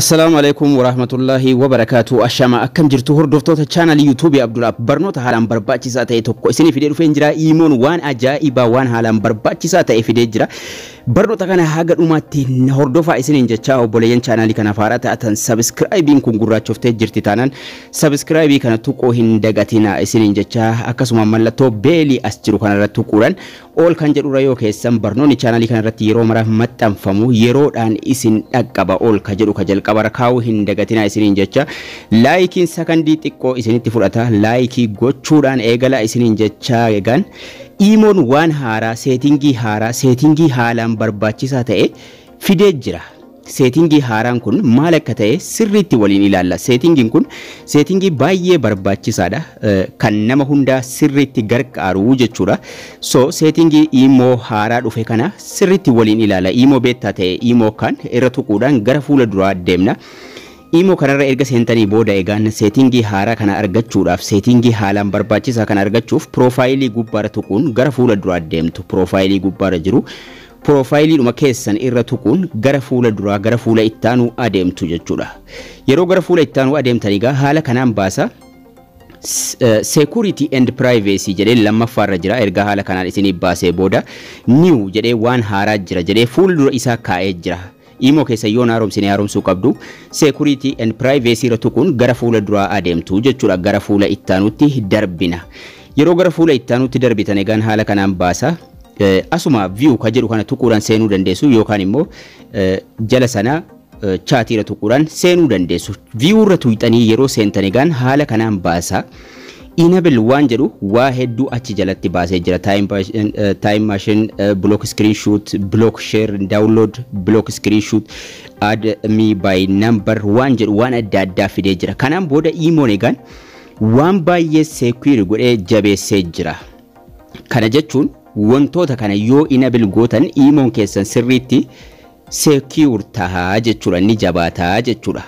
Assalaamu Aleeykum Waraahmatullaahi Wabarakaatu Ashamaa akkam jirtu hordoftoota chaanalii yuutuubii Abdul App barnoota haalaan barbaachisaa ta'e tokko isinii fidee dhufeen jira iimoon waan ajaa'ibaa waan haalaan barbaachisaa ta'e fidee jira barnoota kana haga dhumaatti na hordofaa isiniin jechaa obboleeyyan chaanalii kanaaf haaraa ta'atan sabiskiraayibiin kun gurraachoftee jirti taanaan sabiskiraayibii kana tuquu hin dagatina isiniin jechaa akkasuma mallattoo beelii as jiru kanarra tuquudhaan All kan jedhurra yoo keessan barnoonni channel kana irratti yeroo mara maxxanfamu yeroodhaan isin dhaqqaba all ka jedhu ka jalqabarra kaa'uu hin dagatinaa isiniin jecha laayikiin sakandii xiqqoo isinitti fudhata laayikii gochuudhaan eegala isiniin jecha egaan iimoon waan haaraa seetingii haaraa seetingii haalaan barbaachisaa ta'e fidee jira. Seetingii haaraan kun maal akka ta'e sirriitti waliin ilaalla. Seetingiin kun seetingii baay'ee barbaachisaadha. Kan nama hundaa sirriitti gargaaru jechuudha. So seetingii iimoo haaraa dhufe kana sirriitti waliin ilaala. Iimoo beettaa ta'e iimoo kan irra tuquudhaan gara fuula duraa deemna. Iimoo kanarra erga seentanii booda egaan seetingii haaraa kana argachuudhaaf seetingii haalaan barbaachisaa kana argachuuf piroofaayilii gubbaarra tuquun gara fuula duraa deemtu. Piroofaayilii gubbaarra jiru Piroofaayiliidhuma keessan irra tuquun gara fuula duraa gara fuula itti aanu adeemtu jechuudha. Yeroo gara fuula itti aanu adeemtan egaa haala kanaan baasa. Security and privacy jedhee lammaffaarra jira erga haala kanaan isiniif baasee booda new jedhee waan haaraa jira jedhee fuula dura isaa kaa'ee jira. Imo keessan yoo hin haaromsine haaromsuu qabdu. Security and Privacy irra tuquun gara fuula duraa adeemtu jechuudha. Gara fuula ittaanutti darbina. Yeroo gara fuula ittaanutti darbitan egaan haala kanaan baasa. Asuma view ka jedhu kana tuquudhaan seenuu dandeessu yookaan immoo jala sana chaatii irra tuquudhaan seenuu dandeessu. View irra tuqxanii yeroo seentan egaan haala kanaan baasa. Enable waan jedhu waa hedduu achi jalatti baasee jira. Time, bas- eh, time machine, eh, block screenshot, block share, download, block screenshot, add me by number waan jedhu waan adda addaa fidee jira. Kanaan booda imoon egaan waan baay'ee secure godhee jabeessee jira. Kana jechuun wantoota kana yoo enable gootan imoon keessan sirriitti secure taha jechuudha inni jabaata jechuudha.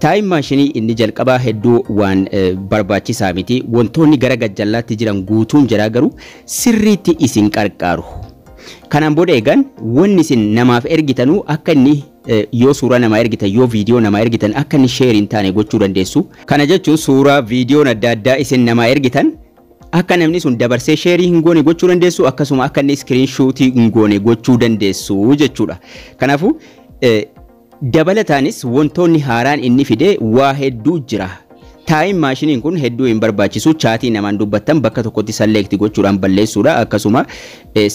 Taayim maashinii inni jalqabaa hedduu waan eh, barbaachisaa miti wantoonni gara gajjallaatti jiran guutuun jiraa garuu sirriitti isin qarqaaru. Kanaan booda eegan wanni isin namaaf ergitanuu akka inni eh, yoo suuraa namaa ergitan yoo viidiyoo namaa ergitan akka inni sheer hin taane gochuu dandeessu. Kana jechuun suuraa viidiyoon adda addaa isin namaa ergitan Akka namni sun dabarsee sheerii hin goone gochuu dandeessu akkasuma akka inni iskiriin shuutii hin goone gochuu dandeessu jechuudha. Kanaafuu dabalataanis wantoonni haaraan inni fide waa hedduu jira. Taayim maashiniin kun hedduu hin barbaachisu chaatii namaan dubbattan bakka tokkotti salleekti gochuudhaan balleessuudha akkasuma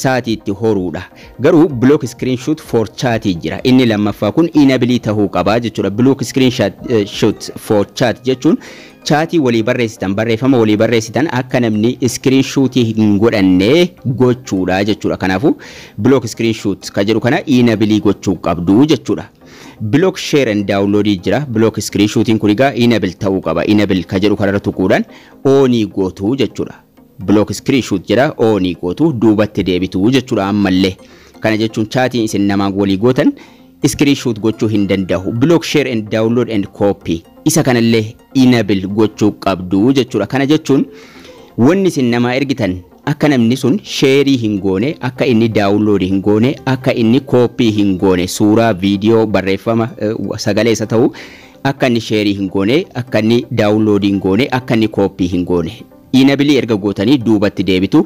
sa'aatii itti horuudha. Garuu block screenshot for chat jira inni lammaffaa kun inabilii tahuu qaba jechuudha. Block screenshot for chat jechuun Chaatii walii barreessitan, barreeffama walii barreessitan akka namni screen shoot hin godhanne gochuudha jechuudha. Kanaafuu block screen shoot kan jedhu kana inabilii gochuu qabdu jechuudha. Block share and download jira. Block screen shootiin kun egaa inable ta'uu qaba. Inable kan jedhu kanarra tuquudhaan oonii gootu jechuudha. Block screen shoot jedha oonii gootu duubatti deebitu jechuudha ammallee. Kana jechuun chaatiin isin namaan walii gootan screen shoot gochuu hin danda'u block share and download and copy isa kanallee enable gochuu qabdu jechuudha kana jechuun wanni isin namaa ergitan akka namni sun sheerii hin goone akka inni daawunloodii hin goone akka inni kooppii hin goone suuraa viidiyoo barreeffama eh, sagalee isa ta'u akka inni sheerii hin goone akka inni daawunloodii hin goone akka inni kooppii hin goone Enable erga gootanii duubatti deebitu.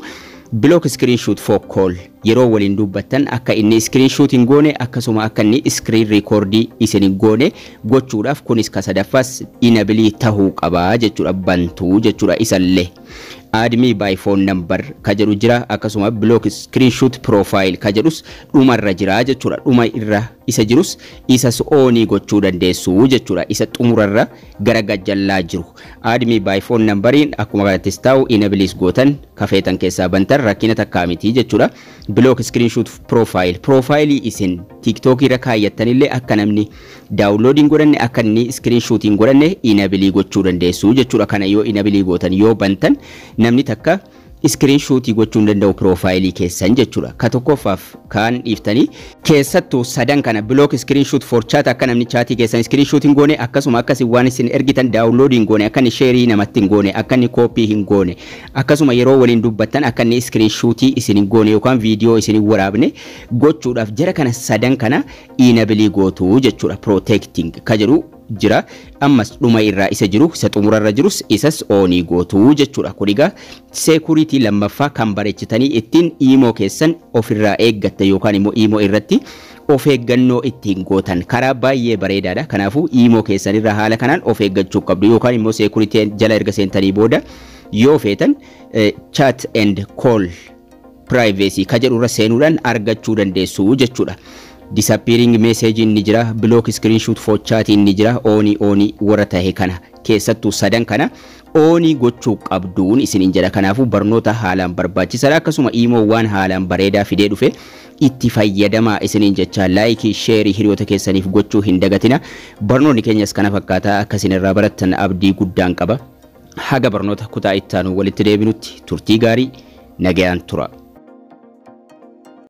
Block screenshot for call yeroo waliin dubbattan akka inni screenshot hin goone akkasuma akka inni screen record isin hin goone gochuudhaaf kunis ka sadaffaas enable tahuu qaba jechuudha bantuu jechuudha isallee. Add me by phone number ka jedhu jira akkasuma block screenshot profile ka jedhus dhumarra jira jechuudha dhuma irra isa jirus isas oonii gochuu dandeessu jechuudha isa xumurarra gara gajjallaa jiru admi by phone nambariin akkuma kanattis taa'u inabilis gootan kafeetan keessaa bantan rakkina takkaa miti jechuudha block screenshot profile profaayilii isin tiktok irra kaayyattanillee akka namni daawunlood hin godhanne akka inni screenshot hin godhanne inabilii gochuu dandeessu jechuudha kana yoo inabilii gootan yoo bantan namni takka screen shuutii gochuu hin danda'u piroofaayilii keessan jechuudha. Ka tokkoffaaf kaan dhiiftanii. keessattu sadan kana block screen shoot for chat akka namni chaatii keessan screen shoot hin goone akkasuma akka isin waan isin ergitan download hin goone akka inni sheerii namatti hin goone akka inni copy hin goone akkasuma yeroo waliin dubbattan akka inni screen shootii isin hin goone yookaan viidiyoo isin hin waraabne gochuudhaaf jara kana sadan kana inabilii gootu jechuudha protecting ka jedhu jira ammas dhuma irraa isa jiru isa xumura irra jirus isas oonii gootu jechuudha kun egaa seekuriitii lammaffaa kan bareechitanii ittiin iimoo keessan ofirraa eeggatta yookaan immoo iimoo irratti of eeggannoo ittiin gootan karaa baay'ee bareedaadha kanaafuu iimoo keessan irraa haala kanaan of eeggachuu qabdu yookaan immoo seekuriitii jala erga seentanii booda yoo feetan chat and call Privacy ka jedhu irra seenuudhaan argachuu dandeessu jechuudha. Disappearing message ni jira, block screenshot for chat ni jira, on on warra tahe kana keessattuu sadan kana on gochuu qabduun isiniin jedha. Kanaafuu barnoota haalaan barbaachisaadha. Akkasuma iimoo waan haalaan bareedaa fidee dhufe itti fayyadamaa isiniin jechaa laayikii sheerii hiriyoota keessaniif gochuu hin dagatina. Barnoonni keenyas kana fakkaata akka isin irraa barattan abdii guddaan qaba. Haga barnoota kutaa ittaanuu walitti deebinutti turtii gaarii nagayaan tura.